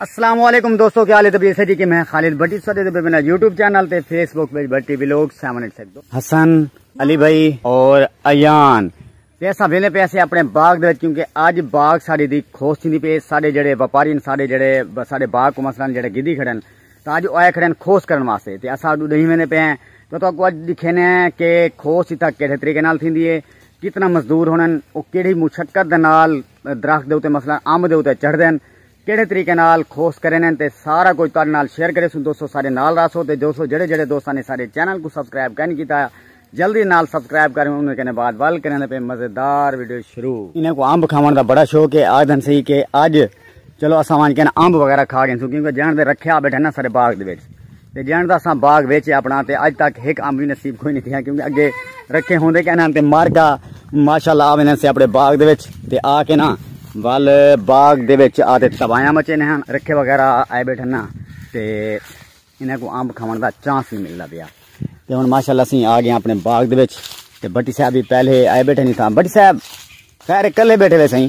السلام علیکم دوستو کیا حال ہے جی کہ میں خالد بٹی سدے تے بنا یوٹیوب چینل تے فیس بک پہ بٹی ویلوگ 786 حسن علی بھائی اور ایان پیسہ وینے پیسے اپنے باغ دے کیونکہ اج باغ ساڈے دی کھوس تھیندی پے ساڈے جڑے وپاری ساڈے جڑے ساڈے باغ کو مثلا جڑے گدی کھڑن تا اج اوے کھڑن کھوس کرن واسطے تے اسا دو دہی وینے پے ہیں تو تو کو اج دکھینے ہیں کہ کھوس تک کیڑے طریقے نال تھیندی ہے کتنا مزدور ہونن او کیڑی مشقت دے نال درخت دے اوتے مثلا آم دے اوتے چڑھ دین کیڑھے طریقے نال خوست کرینن تے سارا کجھ تہاڈے نال شیئر کریسوں دوستو سارے نال رہسو تے دوستو جیڑھے جیڑھے دوستاں نے سارے چینل کوں سبسکرائب کائنی کیتا جلدی نال سبسکرائب کریں انہاں کنے بعد ول کریندے پئے مزیدار ویڈیو شروع انہاں کو امب کھاون دا بڑا شوق ہے آکھدن سی کہ اج چلو اساں ونج کنے امب وغیرہ کھا گیسوں کیونکہ جان دے رکھیا بیٹھے نا سارے باغ دے وچ تے جݨ دا اساں باغ ویچے اپنا تے اج تک ہک امب وی نصیب کوئی نہیں تھیا کیونکہ اگے رکھے ہوندے کہ انہاں تے مر گا ماشاءاللہ آ ویندے سے اپنے باغ دے وچ تے آ کے نا ول باغ دے وچ آ تے تبایاں مچے نے ہن رکھے وغیرہ آئے بیٹھن نا تے انہاں کو امب کھاون دا چانس نہیں ملدا پیا تے ہن ماشاءاللہ اسی آ گئے اپنے باغ دے وچ تے بٹی صاحب بھی پہلے آئے بیٹھے نہیں تھا بٹی صاحب خیر کلے بیٹھے وے سائیں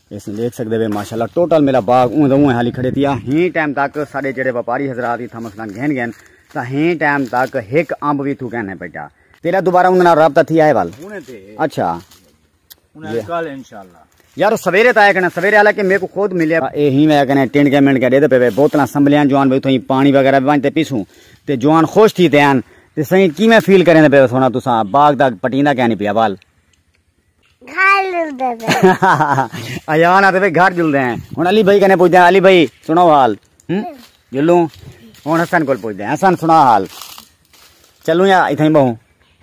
اس نے دیکھ سکتے ہوئے ماشاءاللہ ٹوٹل میرا باغ اون دا اون حالی کھڑے تیا ہین ٹائم تک سارے جڑے وپاری حضرات ہی تھا مثلا گھن گھن تا ہین ٹائم تک ہک امب وی تھو گھن ہے بیٹا تیرا دوبارہ انہاں نال رابطہ تھی آئے وال اچھا انہاں کل انشاءاللہ یار سویرے تا کنا سویرے والا کہ میرے کو خود ملیا اے ہی میں کنا ٹنڈ کے منڈ کے دے دے پے بوتلاں سنبھلیاں جوان بھائی تھوئی پانی وغیرہ بھی وانتے پیسوں تے جوان خوش تھی تیان تے سہی کیویں فیل کریں دے پے سونا تساں باغ دا پٹیندا کہنی پیا وال ایان آتے پہ گھر جلدے ہیں ہن علی بھائی کنے پوچھدے ہیں علی بھائی سنو حال جلوں ہن حسن کول پوچھدے ہیں حسن سنا حال چلوں یا ایتھے بہوں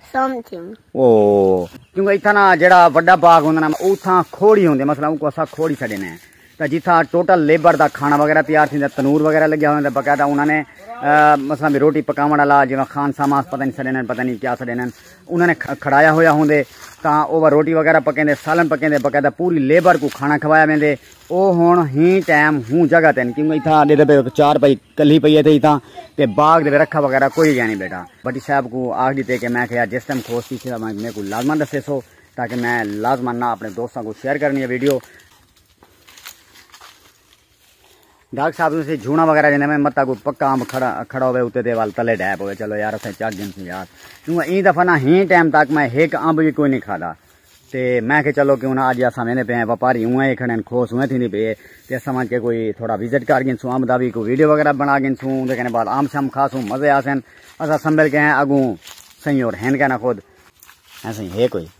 سمتھنگ او کیونکہ ایتھے نا جڑا بڑا باغ ہوندا نا اوتھاں کھوڑی ہوندے مثلا ان کو اسا کھوڑی سڈے نے تاں جتھاں ٹوٹل لیبر دا کھاݨا وغیرہ تیار تھیندا تنور وغیرہ لگیا ہوندے باقاعدہ انہاں نے مثلا بھی روٹی پکاوݨ والا جیویں خان ساما پتہ نہیں سݙیندن پتہ نہیں کیا سݙیندن انہاں نے کھڑایا ہویا ہوندے تاں اوہ روٹی وغیرہ پکیندے سالن پکیندے باقاعدہ پوری لیبر کوں کھانا کھوایا ویندے او ہن ہی ٹائم ہوں جگہ تین کیونکہ اتھاں ڈیدھے پے چار پائی کلھی پئی ہے تھے اتھاں تے باغ دے رکھا وغیرہ کوئی گیا نہیں بیٹا بٹی صاحب کو آکھ دیتے کہ میں کہیا جس ٹائم کھوس تھی میں کو لازمان دسے سو تاکہ میں لازمان نہ اپنے دوستاں کو شیئر کرنی ہے ویڈیو ڈاکٹر صاحب تسی جھونا وغیرہ جنے میں متا کو پکا امب کھڑا کھڑا ہوے اوتے دے وال تلے ڈے پوے چلو یار اسے چاک گن سی یار کیوں این دفعہ نہ ہی ٹائم تک میں ایک امب بھی کوئی نہیں کھادا تے میں کہ چلو کیوں نہ اج اساں ویندے پے ہیں وپاری ہوں اے کھڑے ہیں کھوس ہوئے تھی نہیں پے تے اساں وان کے کوئی تھوڑا وزٹ کر گن سو امب دا بھی کوئی ویڈیو وغیرہ بنا گن سو دے کنے بعد امب شم کھا سو مزے آسن اساں سنبل کے ہیں اگوں سہی اور ہن کنا خود ایسے ہی ہے کوئی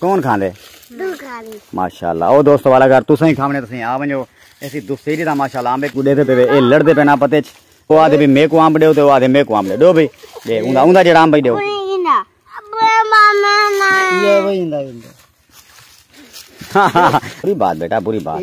کون کھاندے ماشاءاللہ او دوست والا گھر تساں ہی کھاونے تساں آ ونجو ایسی دوسری دا ماشاءاللہ آمبے کو دیتے پے اے لڑدے پے نا پتے چ او آدے بھی میں کو آمب دیو تے او آدے میں کو آمب دیو بھی دے اوندا اوندا جڑا آمب دیو بری بات بیٹا بری بات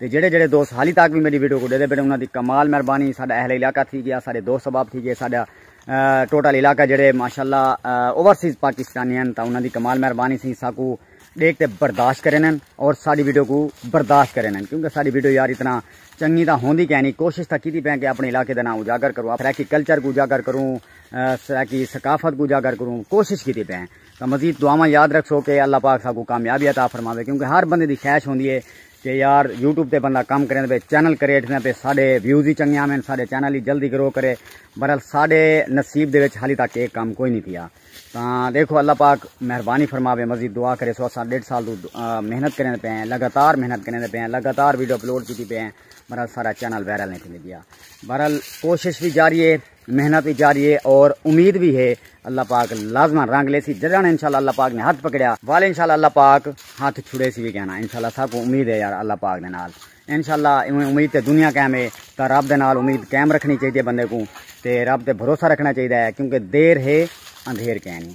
تے جیڑھے جیڑھے دوست حالی تاک وی میڈی ویڈیو کوں ڈیدے بیٹھے انہاں دی کمال مہربانی ساڈا اہل علاقہ تھی گیا ساڈے دوست احباب تھی گئے ساڈا ٹوٹل علاقہ جیڑھے ماشاءاللہ اوورسیز پاکستانی ہن تاں انہاں دی کمال مہربانی سی ساکو ڈیکھ تے برداشت کرینن اور ساڈی ویڈیو کو برداشت کرینن کیونکہ ساڈی ویڈیو یار اتنا چنگی تاں ہوندی کہیں نہیں کوشش تاں کیتی پیں کہ اپنے علاقے دا نام اجاگر کروں سرائیکی کلچر کو اجاگر کروں سرائیکی ثقافت کو اجاگر کروں کوشش کیتی پیں تاں مزید دعاواں یاد رکھو کہ اللہ پاک ساکو کامیابی عطا فرماوے کیونکہ ہر بندے دی خواہش ہوندی ہے کہ یار یوٹیوب تے بندہ کم کریندا پئے چینل کریٹ تھیندا پئے ساڈے ویوز ہی چنگے آون ساڈے چینل ہی جلدی گرو کرے بہرحال ساڈے نصیب دے وچ حالی تک اے کم کوئی نہیں تھیا تاں دیکھو اللہ پاک مہربانی فرماوے مزید دعا کرے سو اساں ڈیڑھ سال تو محنت کریندے پئے ہیں لگاتار محنت کریندے پئے ہیں لگاتار ویڈیو اپلوڈ کیتی پئے ہیں بہرحال سارا چینل وائرل نہیں تھیندے پیا بہرحال کوشش بھی جاری ہے محنت بھی جاری ہے اور امید بھی ہے اللہ پاک لازمان رنگ لے سی جدان انشاءاللہ اللہ پاک نے ہاتھ پکڑیا والے انشاءاللہ اللہ پاک ہاتھ چھڑے سی بھی کہنا انشاءاللہ سب کو امید ہے یار اللہ پاک دے نال انشاءاللہ ایویں امید تے دنیا قائم ہے تا رب دے نال امید قائم رکھنی چاہیے بندے کو تے رب تے بھروسہ رکھنا چاہیے ہے کیونکہ دیر ہے اندھیر کہنی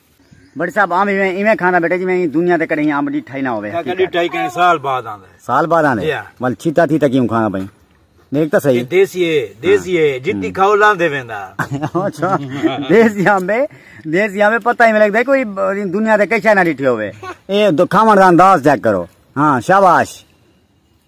بڑے صاحب آم ایویں ایویں کھاندا بیٹے جی میں دنیا تے کڈے ہی آم ڈٹھا ہی نہ ہوے ہے کڈے ٹائی کہیں سال بعد آندا ہے سال بعد آندا ہے مل چھتا تھی تکیوں کھانا پئی دیکھ تا صحیح دیسی ہے دیسی ہے جتنی کھاؤ لاندے ویندا اچھا دیسی آم بے دیسی آم پتہ ہی میں لگدا کوئی دنیا تے کچھ نہ ڈٹھے ہوے اے کھاون دا انداز چیک کرو ہاں شاباش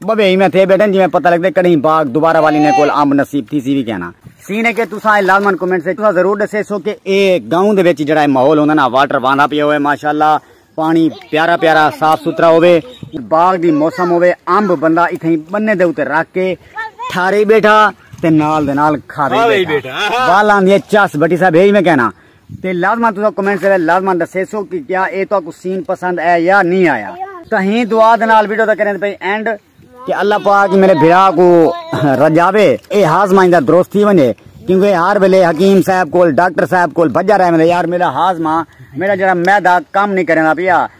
بھویں ایویں تھے بیٹھن جویں پتہ لگدے کڈہیں باغ دوبارہ والی نے کول امب نصیب تھی سی وی کہنا سی نے کہ تساں اے لازمن کمنٹس وچ تساں ضرور ڈسے سو کہ اے گاؤں دے وچ جڑا اے ماحول ہوندا نا واٹر واندا پیا ہوے ماشاءاللہ پانی پیارا پیارا صاف ستھرا ہوے باغ دی موسم ہوے امب بندہ اتھیں بنے دے اوتے رکھ کے ٹھارے بیٹھا تے نال دے نال کھاوے بیٹھا والاں دی چس بٹی صاحب ہے میں کہنا تے لازمان تساں کمنٹس دے لازمان دسیسو کہ کیا اے تو کو سین پسند اے یا نہیں آیا تو ہی دعا دے نال ویڈیو دا کریں پئی اینڈ کہ اللہ پاک میرے بھرا کو رجاوے اے ہاز مائیں دا درست تھی ونجے کیونکہ ہر ویلے حکیم صاحب کول ڈاکٹر صاحب کول بھجا رہے میں یار میرا ہاز ماں میرا جڑا میدا کم نہیں کرنا پیا